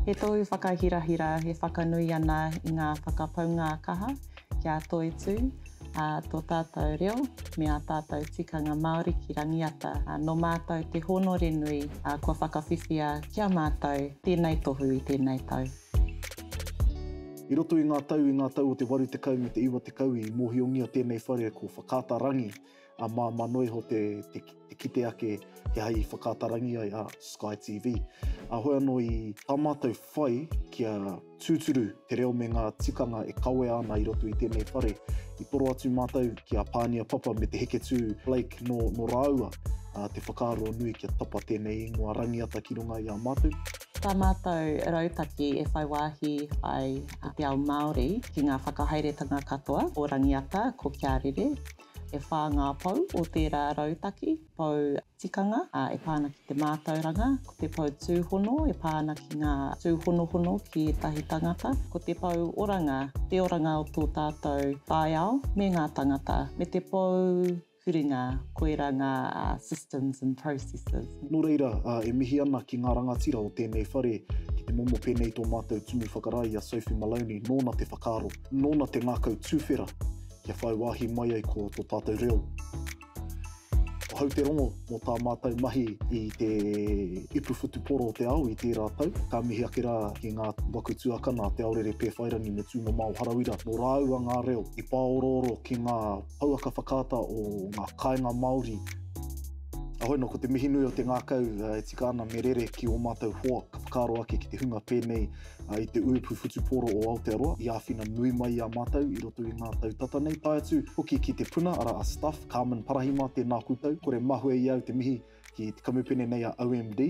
He tohu whakahirahira e whakanui ana i ngā whakapaunga kaha ki a Toitū, ā, tō tātou reo me ā tātou tikanga Māori ki Rangiata. Nō mātou te hōnore nui kua whakawhiwhia ki a mātou tēnei tohu i tēnei tau. I roto i ngā tau i ngā tau o te waru tekau me te iwa tekau i mōhiongia tēnei whare ko Whakaata Rangi a Māmā Noe iho te kite ake he aha i Whakaata Rangi ai a Sky TV. A hoi anō i tā mātou whai kia tūturu te reo me ngā tikanga e kawea ana i roto i tēnei whare i toro atu mātou ki a Pānia Papa me Te Heketū Blake nō rāua te whakaaro nui kia tapa tēnei ingoa rangiata ki runga i a mātou. Tā mātou rautaki e whai wāhi ai i te ao Māori ki ngā whakahaeretanga katoa o Rangiata ko Kia Rere. E whā ngā pou o tērā rautaki, pou tikanga e pā ana ki te mātauranga, ko te pou tūhono e pā ana ki ngā tūhonohono ki ētahi tangata, ko te pou oranga, te oranga o tō tātou taiao me ngā tangata, me te pou. Huringa, koirā ngā systems and processes. Nō reira, e mihi ana ki ngā rangatira o tēnei whare ki te momo pēnei tō mātou Tumu Whakarae i a Sophie Maloney, nōna te whakaaro, nōna te ngākau tūwhera kia whai wāhi mai ai ko tō tātou reo. Ahau te rongo mō tā mātou mahi i te ipu whutupōro o te ao i tērā tau. Ka mihi ake rā ki ngā waku tuakana a Te Aorere Pēwhairangi me Tūmamao Harawira, nō rāua ngā reo i pāorooro ki ngā Pouaka whakaata o ngā kāinga Māori. Ahoi no ko te mihi nui o te ngakau e tika ana me rere ki o matou hoa ka whakaaro ake ki te hunga pēnei i te uipu whutupōro o Aotearoa i āwhina nui mai i a matou i roto i ngā tau tata nei tae atu hoki ki te puna ara a Stuff Carmen Parahima tēnā koutou kore mahue i au te mihi ki te kamupene nei a OMD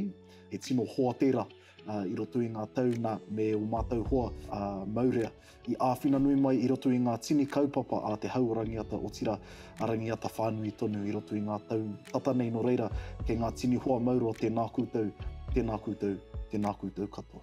he tino hoa tēra i roto i ngā tau nā, me ō mātou hoa a Maurea, i āwhina nui mai i roto i ngā tini kaupapa a te hau o Rangiata, otirā, a Rangiata whānui tonu i roto i ngā tau tata nei nō reira, kei ngā tini hoa mauroa tēnā koutou, tēnā koutou, tēnā koutou katoa.